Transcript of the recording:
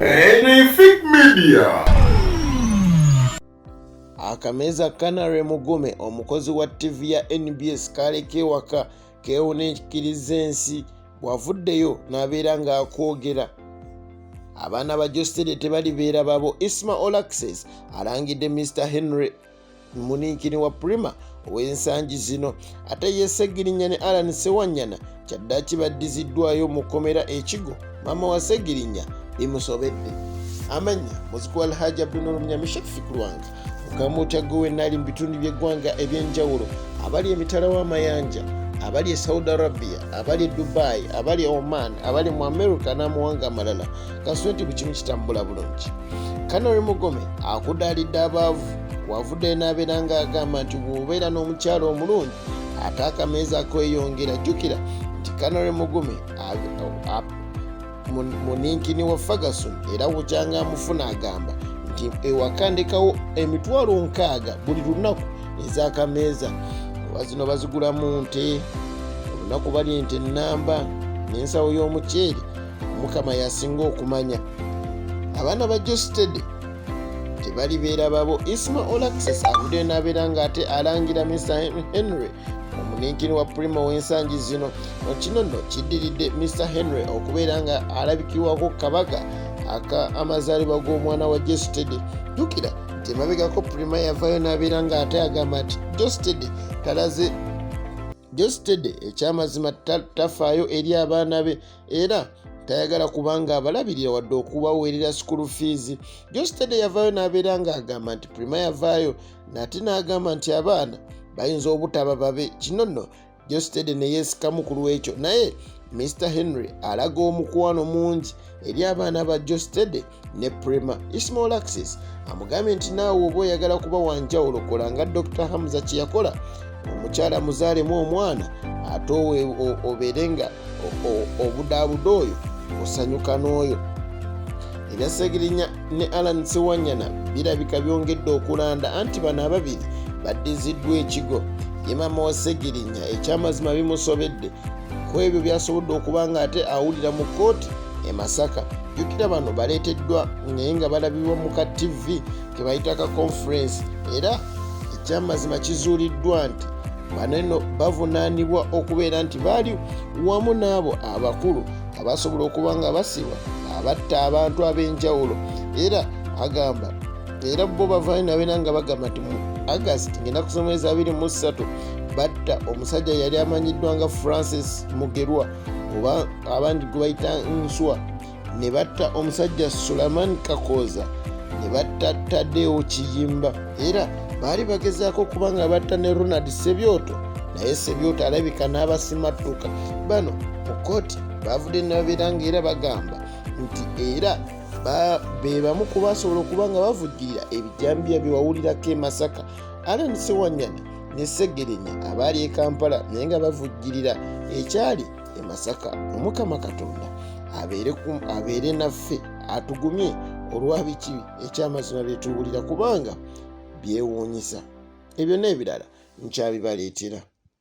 Anything Media. Akameza Canary Mugume omukozi wa TV ya NBS kaaleka ewaka keewona ekikkiriza ensi bw'avuddeyo n'abeera ng'akwogera abaana ba jostede tebalibeera babo isma olaxes alangidde mr henry muninkini wa prima ow'ensangi zino ate yesegirinya ne alan sewanyana kyaddaki baddiziddwayo mu kkomera ekigo maama wa segirinya bimusobedde amanya muziki wa alhaji abdunulumnyamishekfi ku lwanga mukamutya gwe wenaali mu bitundu by'eggwanga eby'enjawulo abali emitala w'amayanja abali e saudi arabia abali e dubai abali e oman abali mu america n'amawanga amalala kasweti ku kimu kitambula bulungi kanori mugome akudaalidde abaavu wavude n'abeera ng'agamba nti bw'obeera n'omukyalo omulungi ate akameeza kweyongera jjukira nti kanori mugome muninkini wa ferguson era wukyanga amufuna agamba nti ewakandikawo emitwalo nkaaga buli lunaku ez'akameeza oba zino bazigulamu nte olunaku bali nti ennamba n'ensawo y'omuceeri mukama yasinga okumanya abaana ba jostede tebalibeera babo isma olaxes avuddeyo n'abeera ng'ate alangira mr henry omuninkini wa primo w'ensangi zino kino nno kiddiridde mr henry okubeera nga alabikirwako kabaga aka amazaalibwa g'omwana wa jostede jukira nti emabegako prima yavayo n'abeera ng'ate agamba nti jostede talaze jostede ekyamazima tafaayo eri abaana be era tayagala kubanga abalabirira wadde okubaweerera school fees jostede yavaayo n'abeera ng'agamba nti prima yavaayo nate n'agamba nti abaana bayinza obutaba babe kino nno jostede ne yeesikamu ku lw'ekyo naye mr henry alaga omukwano mungi eri abaana ba jostede ne prema ismail axis amugambye nti naawe oba oyagala kuba wanjawulo kola nga dr hamza kyeyakola omukyala muzaalemu omwana ate obeere nga obudaabuda oyo osanyuka n'oyo ebya segirinya ne alan siwanyana birabika byongedde okulanda anti bano ababiri baddiziddwa ekigo ye maama wa segirinya ekyamazima bimusobedde ku ebyo byasobodde okuba nga ate awulira mu kkooti e masaka jjukira bano baleeteddwa naye nga balabibwa mu ka tv kebayita ka conference era ekyamazima kizuuliddwa nti baneno bavunaanibwa okubeera nti baali wamu n'abo abakulu abasobola okuba nga basibwa abatta abantu ab'enjawulo era agamba era bo bavaayo nabeera nga bagamba nti mu agast ngaenaku z'omwezi 23 batta omusajja yali amanyiddwa nga francis mugerwa oba abandi gwe bayita nswa ne batta omusajja sulaman kakooza ne batta tadewo kiyimba era baali bagezaako okuba nga batta ne ronald sebyoto naye sebyoto alabika n'abasimattuka bano mu kooti baavudde nababeera nga era bagamba nti era be bamu ku basobola okuba nga bavujjirira ebijambiya bye wawulirako e masaka Allen Sewanyana ne Ssegirinya abaali e Kampala naye nga bavujjirira ekyali e Masaka. Omukama Katonda abeere naffe atugumye olwa biki ekyamazima bye tuwulira kubanga byewuunyisa. Ebyo n'ebirala nkyabibaleetera.